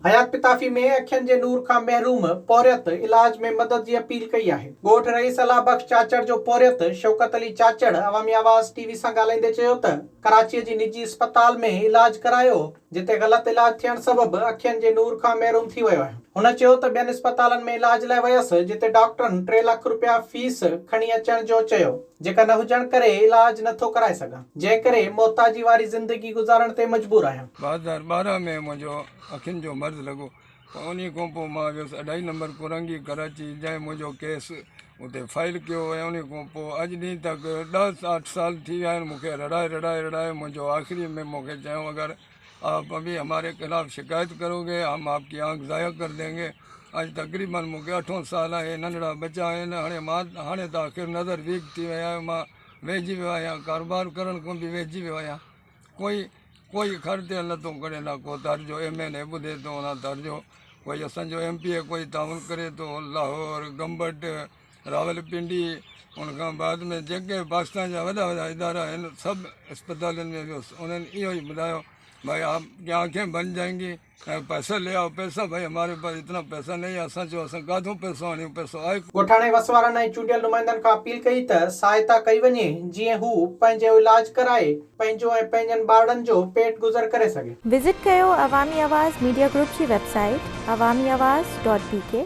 حيات پتافي ۾ اکين جي نور کان محروم پورهيت علاج ۾ مدد جي اپيل ڪئي آهي. ڳوٺ رئيس الله بخش چاچڙ جو پورهيت شوڪت علي چاچڙ عوامي آواز ٽي وي سان ڳالهائيندي چيو ته ڪراچي جي نجي اسپتال ۾ علاج ڪرايو جتي غلط علاج ٿيڻ سبب اکين جي نور کان محروم ٿي ويو آهيان. هن چيو ته ٻين اسپتالن ۾ علاج لاء ويس جتي ڊاڪٽرن ٽي لک رپيا فيس کڻي اچڻ جو چيو. جيڪا نه هجڻ ڪري علاج نه ٿو ڪرائي سگهان، جنهن ڪري محتاجي واري زندگي گذارڻ تي مجبور آهيان. ٻه هزار ٻارهن ۾ منهنجو اکين جو مرض لڳو ۽ انهي کان پوء مان ويس اڍائي نمبر ڪورنگي ڪراچي جنهن منهنجو ڪيس اتي فائل ڪيو ۽ انهي کان پوء اڄ ڏينهن تڪ ڏهه اٺ سال ٿي ويا آهن مون کي رڙائي رڙائي رڙائي منهنجو آخري ۾ مون کي چيائون اگر آپ ابھی ہمارے خلاف شڪايت ڪرو گي ھم آپ ڪي آنک ضايع ڪر دين گي اڄ تقريبن مون کي اٺون سال آھي ننڍڙا ٻچا آھن ھاڻي مان ھاڻي ته آخر نظر ويڪ ٿي وئي آھي مان ويھجي ويو آھيان ڪاروبار ڪرڻ کان به ويھجي ويو آھيان ڪوئي ڪوئي خر تيل نٿو ڪڍي نه ڪو تر جو ايم اين اي ٻڌي ٿو نه تر جو ڪوئي اسان جو ايم پي اي ڪوئي تعاون ڪري ٿو لاھور گمبٽ راولپنڊي ان کان بعد ۾ جيڪي پاڪستان جا وڏا وڏا ادارا آهن سڀ اسپتالن ۾ ويس انهن اهو ئي ٻڌايو ڀائي آپ ڪي آنکين بن جائين گي ۽ پئسا لي آئو پئسا ڀائي هماري پاس اتنا پئسا نهي آهي اسان چيو اسان ڪاٿو پئسو آڻيون پئسو آهي ڪو. ڳوٺاڻي وس وارن ۽ چونڊيل نمائندن کان اپيل ڪئي ته سهائتا ڪئي وڃي جيئن هو پنهنجو علآج ڪرائي پنهنجو ۽ پنهنجن ٻارڙن جو پيٽ گذر ڪري سگهي. وزٽ ڪيو عوامي آواز ميڊيا گروپ جي website Awami Awaz dot بي ڪي.